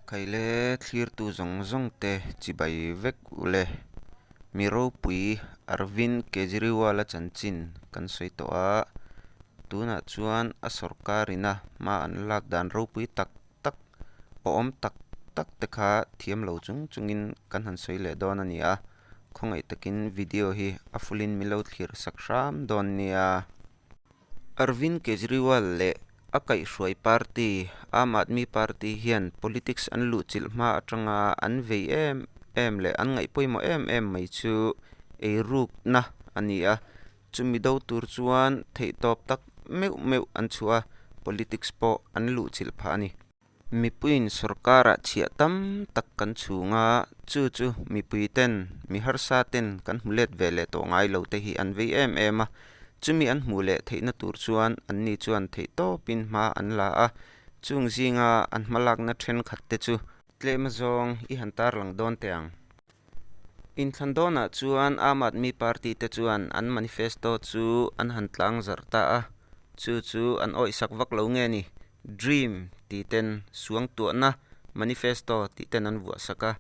Khaile thlirtu zawng zawng te chibai vek ule. Mi ropui Arvind Kejriwal a chanchin kan sawi tawh a, tunah chuan a sorkar in a hma an lak dan ropui tak tak, awm tak tak te kha thiam lo chung chung in kan han sawi leh dawn a ni a, khawngaih takin video hi a full in milo thlir sak hram dawn nia. Arvind Kejriwal leh a kaihhruai party Aam Aadmi Party hian politics an luhchilh hma atanga an vei em em leh an ngaih pawimawh em em mai chu ei rukna a ni a, chumi do tur chuan theihtawp tak meuh meuh an chhuah a, politics pawh an luhchilh phah a ni. Mipuiin sorkara chhiah tam tak kan chhung a, chu chu mipui ten, mi harsa ten kan hmu let ve leh tawh ngai lo te hi an vei em em a, chumi an hmuh leh theihna tur chuan an ni chuan theih tawp in hma an la a, chung zinga an hmalakna thenkhat te chu. Tlema zawng i han tarlang dawn teh ang. Inthlan dawnah chuan Aam Aadmi Party te chuan an manifesto chu an han tlang zarh ta a, chu chu an awihsak vak lo nge ni? Dream tih ten, suangtuahna, manifesto tih ten an vuahsak a,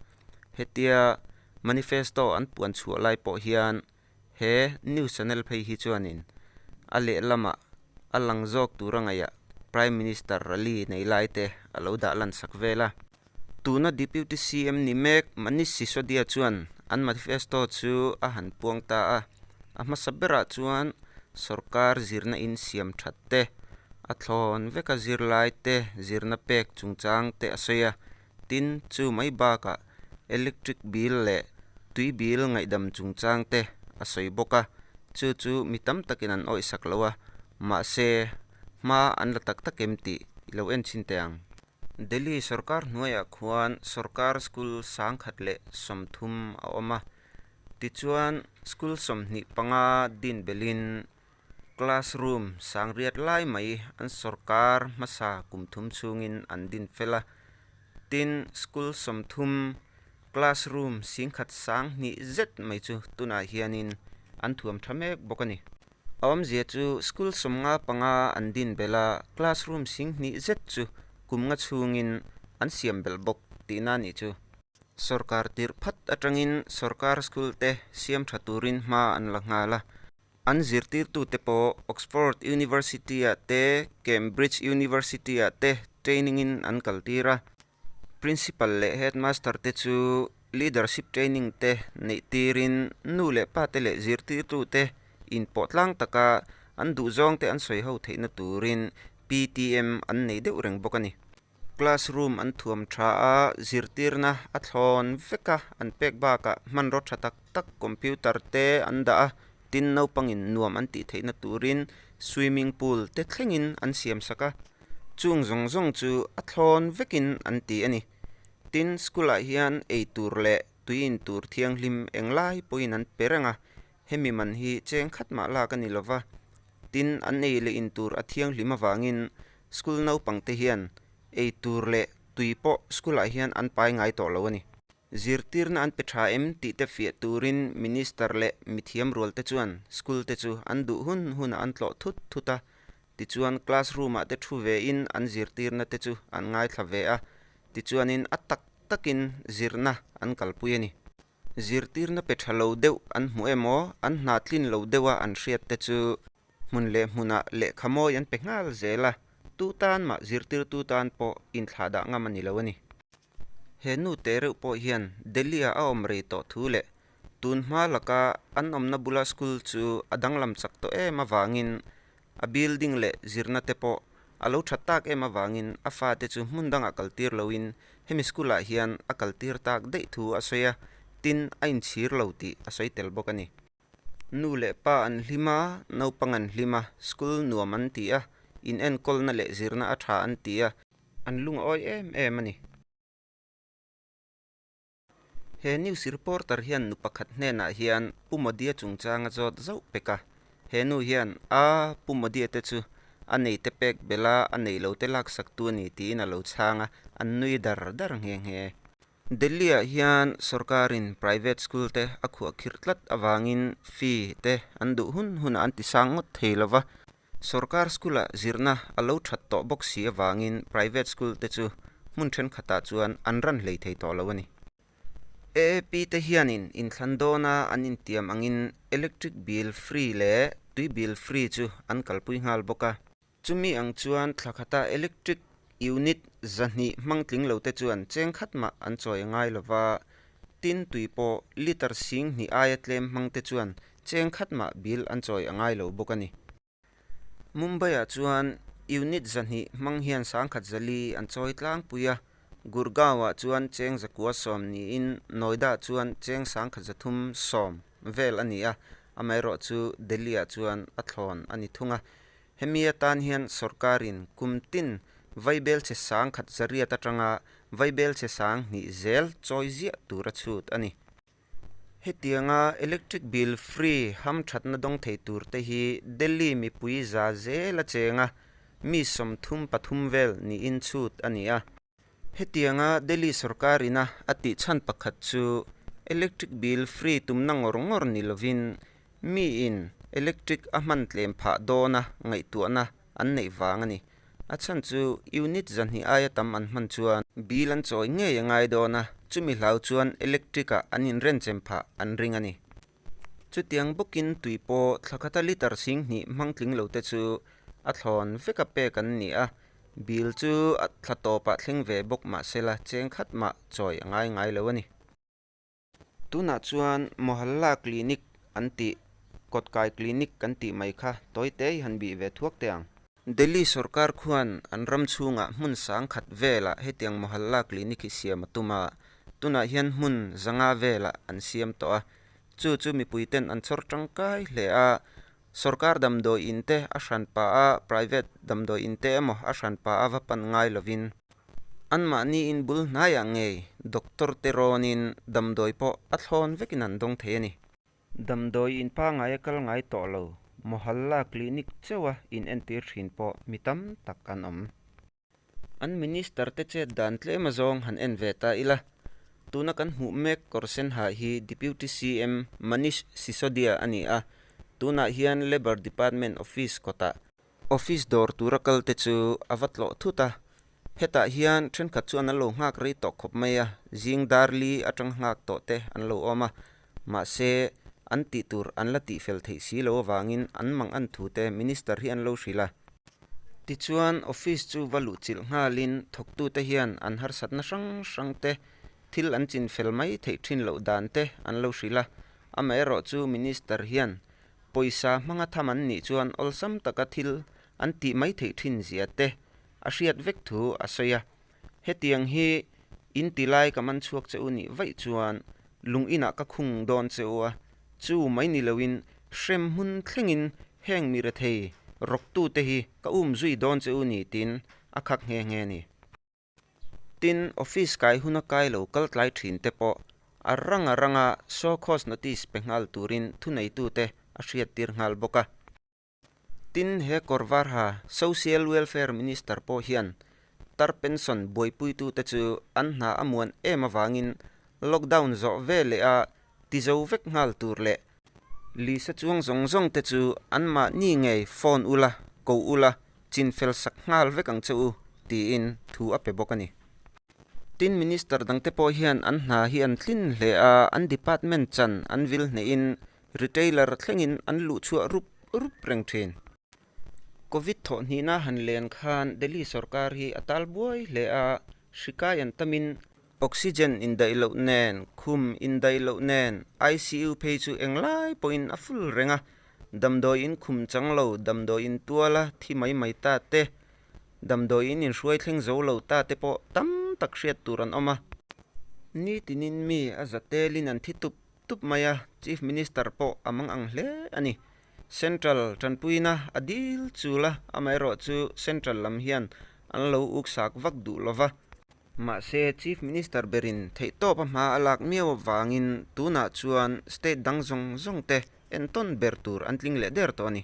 hetia manifesto an puan chhuah lai pawh hian He news channel phei hi chuanin a lehlamah a lang zawk tura ngaiah Prime Minister rally nei lai te a lo dah lansak vel a. Tuna Deputy CM ni mek Manish Sisodia chuan an manifesto chu a han puang ta a, a hmasa berah chuan sorkar zirna in siam that te, a thlawn veka zir lai te, zirna pek chungchang te a sawi a. Tin, chu mai bakah electric bill leh tui bill ngaihdam chungchang te a sawi bawk a, chu chu mi tam takin an awih sak lo a, mahse hma an la tak tak em tih i lo en chhin teh ang. Delhi sawrkar hnuaiah khuan sawrkar school sangkhat leh sawmthum a awm a, tichuan school sawmhnih panga din belhin Classroom sangriat lai mai an sawrkar hmasa kum thum chungin an din fel a, tin, school sawmthum classroom singkhat sang hnih zet mai chu tunah hianin an thuam tha mek bawk a ni. A awmzia chu school sawmnga panga an din belh a, classroom sing hnih zet chu kumnga chungin an siam belh bawk tih na nih chu. Sawrkar tirh phat atangin sawrkar school te siam tha turin hma an la nghal a. An zirtirtute pawh Oxford University-a te Cambridge University-ah te training-in an kaltir a. Principal leh Headmaster-te chu leadership training te neih tirin nu leh pate leh zirtirtute in pawhtlang taka an duhzawngte an sawiho theihna turin PTM an nei deuh reng bawk a ni. Classroom an thuam tha a, zirtirna a thlawn vek a, an pek bakah hmanraw tha tak tak computer te an dah a, tin naupangin nuam an tih theihna turin swimming pool te thlengin an siam sak a, chung zawng zawng chu a thlawn vekin an ti a ni. Tin school ah hian eitur leh tui intur thianghlim englai pawhin an pe reng a, Hemi man hi cheng khat mah lak a ni lo va, tin an ei leh in tur a thianghlim avangin school naupangte hian ei tur leh tui pawh school ah hian an pai ngai tawh lo a ni. Zirtirna an pe tha em tih te fiah turin Minister leh mithiam rualte chuan school te chu an duh hun hunah an tlawh thut thut a, tichuan classroom ah te thu ve in an zirtirna te chu an ngaithla ve a, tichuanin a tak takin zirna an kalpui a ni. Zirtirna pe tha lo deuh an hmu em aw, an hna tlin lo deuh a an hriat te chu hmun leh hmunah lehkha mawi an pe nghal zel a, tu tan mah zirtirtu tan pawh inthlah dah ngam a ni lo a ni. He nu teh reuh pawh hian Delhi-ah a awm rei tawh thu leh tun hma laka an awmna bula school chu a danglam chak tawh em avangin A building leh zirna te pawh a lo that tak em avangin a fate chu hmun dangah kal tir loin hemi school ah hian a kal tir tak daih thu a sawi a, tin a inchhir lo tih a sawi tel bawk a ni. Nu leh pa an hlim a, naupang an hlim a, school nuam an ti a, inenkawl-na leh zirna a tha an ti a, an lung a awi em em a ni. He news reporter hian nu pakhat hnenah hian Pu Modia chungchanga zawt zauh pek a, he nu hian, A, Pu Modia te chu a nei te pek bela a nei lo te laksak tu a ni tiin a lo chhang a, an nui dar dar nghe nghe. Delhi-ah hian sorkarin private school te a khuah khirh tlat avangin fee te an duh hun hunah an ti sang ngawt thei lo va, Sorkar School-a zirna a lo that tawh bawk si avangin Private School te chu hmun thenkhatah chuan an ran hlei thei tawh lo a ni. AAP te hianin inthlan dawna an intiam angin Electric Bill Free leh Tui Bill Free chu an kalpui nghal bawk a. Chumi ang chuan thlakhata Electric Unit zahnih hmangtling lo te chuan cheng khat mah an chawi a ngai lova, tin tui pawh liter sing hnih aia tlem hmang te chuan cheng khat mah bil an chawi a ngai lo bawk a ni. Mumbai-ah chuan unit zahnih hmang hian sangkhat zali an chawi tlangpui a, Gurgaon-ah chuan cheng zakua sawm niin Noida-ah chuan cheng sangkhat zathum sawm vel a ni a, amaherawhchu Delhi-ah chuan a thlawn a ni thung a, Hemi atan hian sorkarin kum tin Vaibel che sang khat zariat atanga Vaibel che sang hnih zel chawi ziah tura chhut a ni. Hetianga electric bill free ham thatna dawng thei tur te hi Delhi mipui za zela chenga mi sawmthum pathum vel niin chhut a ni a. Hetianga Delhi sorkar ina a tih chhan pakhat chu electric bill free tumna ngawr ngawr ni lovin mi in electric a hman tlem phah dawn a ngaihtuahna an neih vang a ni. A chhan chu unit zahnih aia tam an hman chuan bill an chawi ngei a ngai dawn a, chumi hlau chuan electric ah an inrenchem phah an ring a ni. Chutiang bawkin tui pawh thla khata litre sing hnih hmang tling lo te chu a thlawn veka pek an ni a. Bill chu a thla tawpah thleng ve bawk mah sela cheng khat mah chawi a ngai ngai lo a ni. Tunah chuan Mohalla Clinic an tih, Kawtkai Clinic kan tih mai kha tawi te i han bih ve thuak teh ang. Delhi sorkar khuan an ram chhunga hmun sang khat velah hetiang Mohalla clinic hi siam a tum a, tunah hian hmun zanga velah an siam tawh a. Chu chu mipuiten an chawr tangkai hle a, sorkar damdawi in te a hran pa a, private damdawi in te emaw a hran pa a va pan ngai lovin, anmahni in bul hnaiah ngei doctor te rawnin damdawi pawh a thlawn vekin an dawng thei a ni. Damdawi in pangai a kal ngai tawh lo, Mohalla clinic chauha in entir thin pawh mi tam tak an awm. An Minister te chet dan tlema zawng han en ve ta ila, tuna kan hmuh mek kawr sen ha hi Deputy CM Manish Sisodia a ni a, tunah hian Labour Department Office kawtah Office dawr tura kal te chu a va tlawh thut a, hetah hian thenkhat chuan an lo nghak rei tawh khawp mai a, zing dar li atang nghak tawh te an lo awm a, mahse an tih tur an la tih fel theih si lo avangin an mang an thu te Minister hi an lo hrilh a. Tichuan Office chu va luh chilh nghalin thawktu te hian an harsatna hrang hrang te, thil an chin fel mai theih thin loh dan te an lo hrilh a, amaherawhchu Minister hian Pawisa hmanga tham an nih chuan awlsam taka thil an tih mai theih thin zia te a hriat vek thu a sawi a, hetiang hi in ti lai ka man chhuak che u nih vaih chuan lung inah ka khung dawn che u a, chu mai ni lo in hrem hmun thleng in heng mi rethei rawk tu te hi ka um zui dawn che u ni tin a khak nghe nghe a ni. Tin, office kai hun a kai lo kal tlai thin te pawh a ranga ranga show cause notice pe nghal turin thuneitute a hriat tir nghal bawk a. Tin, he kawr var ha Social Welfare Minister pawh hian tar pension buaipuitute chu an hna a muan em avangin lockdown zawh ve leha Ti zo vek nghal tur leh. Lisa chuang zawng zawng te chu an mahni ngei phone ul a, ko ul a, chin fel sak nghal vek ang che u tiin thu a pe bawk a ni. Tin Minister dang te pawh hian an hna hi an tlin hle a, an department chan an vil hnehin retailer thlengin an luh chhuah rup rup reng thin. Covid thawhhnihna han len khan Delhi sorkar hi a tal buai hle a, hrikai an tamin Oxygen indaih loh nen, khum indaih loh nen, ICU phei chu eng lai pawhin a full reng a, damdawiin khum chang lo, damdawiin tual a thi mai mai ta te, damdawiin inhruai thleng zo lo ta te pawh tam tak hriat tur an awm a. Nitin in mi a za tel in an thi tup tup mai a, Chief Minister pawh a mang ang hle a ni. Central tanpuina a dil chul a, amaherawhchu Central lam hian an lo uk sak vak duh lo va. Mahse, Chief Minister berin theihtawpa hma a lak miau avangin tunah chuan state dang zawng zawng te entawn ber tur an tling leh der tawh a ni.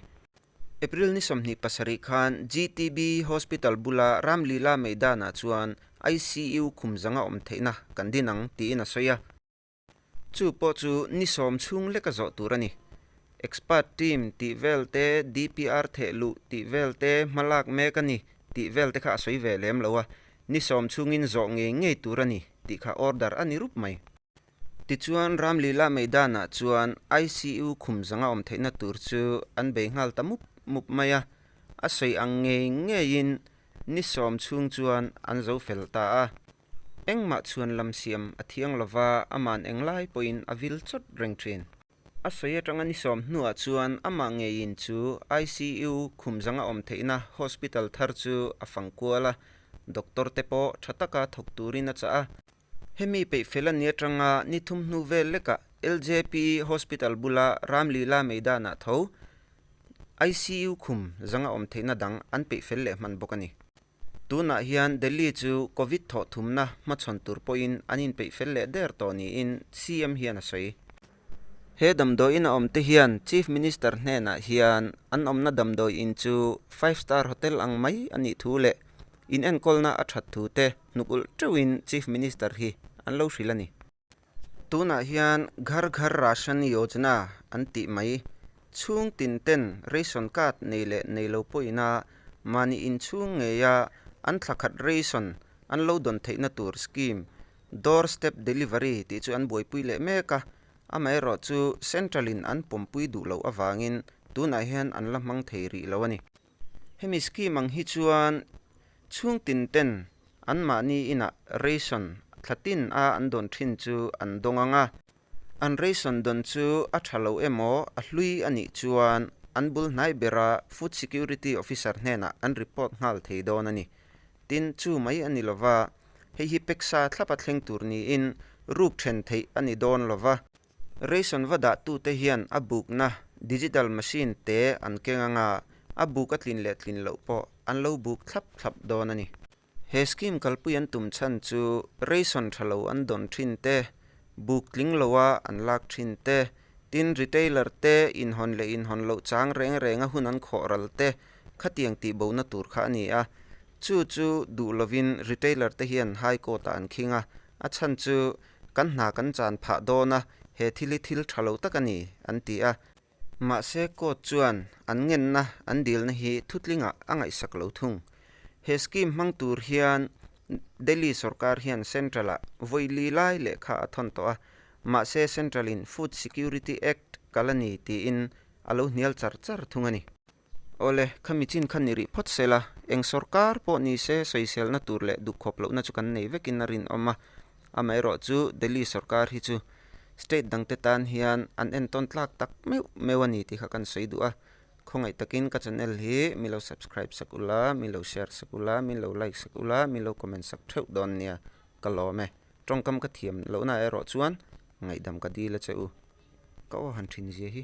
April ni sawmhnih pasarih khan GTB Hospital bula Ramlila Meidanah chuan ICU khum zanga awm theihna kan din ang, tiin a sawi a. Chu pawh chu ni sawm chhung leka zawh tur a ni. Expert team tih vel te, DPR theh luh tih vel te, hma lak mek a ni tih vel te kha a sawi ve lem lo a, ni sawm chungin zawh ngei ngei tur a ni tih kha order a ni rup mai. Tichuan, Ramlila Maidanah chuan ICU khum zanga awm theihna tur chu an bei nghal ta mup mup mai a, a sawi ang ngei ngeiin ni sawm chhung chuan an zo fel ta a. Engmah chuan lam siam a thiang lo va, a man eng lai pawhin a vil chawt reng thin. A sawi atanga ni sawm hnuah chuan amah ngeiin chu ICU khum zanga awm theihna hospital thar chu a fang kual a, doctor te pawh tha taka thawk turin a chah a. Hemi peih fel a ni atanga ni thum hnu vel lekah LJP hospital bula Ramlila meidanah tho ICU khum zanga awm theihna dang an peih fel leh hman bawk a ni. Tunah hian Delhi chu Covid thawhthumna hmachhawn tur pawhin an inpeih fel leh der tawh niin CM hian a sawi. He damdawiin a awmte hian Chief Minister hnenah hian an awmna damdawi in chu Five Star Hotel ang mai a nih thu leh inenkawl na a that thu te hnuk ulh teuhin Chief Minister hi an lo hrilh a ni. Tunah hian Ghar Ghar Rashan Yojana an tih mai chhung tin ten ration card nei leh nei lo pawhina mahni inchhung ngeia an thla khat ration an lo dawn theihna tur scheme Door Step Delivery tih chu an buaipui leh mek a, amaherawhchu central in an pawmpui duh loh avangin tunah hian an la hmang thei rih lo a ni. Hemi scheme ang hi chuan chhungtin ten an mahni inah ration thla tin a an dawn thin chu an dawng ang a, an ration dawn chu a tha lo emaw a hlui a nih chuan an bul hnai bera Food Security Officer hnenah an report nghal thei dawn a ni. Tin, chu mai a ni lova, hei hi peksa thlapa thleng tur niin ruk then theih a ni dawn lova. Reason va dahtute hian a bukna digital machine te an keng anga a buk a tlin leh tlin loh pawh an lo buk thlap thlap dawn a ni. He scheme kalpui an tum chhan chu reason tha lo an dawn thin te, buk tling loa an lak thin te, tin retailer te inhawn leh inhawn loh chang reng renga hun an khawh ral te khatiang tihbohna tur kha a ni a. Chu chu duh lovin retailer te hian High Court-ah an khing a, a chhan chu Kan hna kan chan phah dawn a, he thil hi thil tha lo tak a ni, an ti a. Mahse, court chuan an ngenna, an dilna hi thutlingah a ngaihsak lo thung. He scheme hmang tur hian Delhi sawrkar hian Central-ah vawilii lai leh kha a thawn tawh a, mahse Central-in Food Security Act kal a ni tiin a lo hnial char char thung a ni. Awle, kha michin khan i rih phawt se la, eng sorkar pawh ni se sawiselna tur leh dukkhawp lohna chu kan nei vekin a rinawm a. Amaherawh chu Delhi sorkar hi chu state dangte tan hian an entawn tlak tak meuh meuh a ni tih kha kan sawi duh a. Khawngaih takin ka channel hi min lo subscribe sak u la, min lo share sak u la, min lo like sak u la, min lo comment sak theuh dawn nia ka lawm e. Tawngkam ka thiam lohna erawh chuan ngaihdam ka dil e che u. Ka aw han thinzia hi.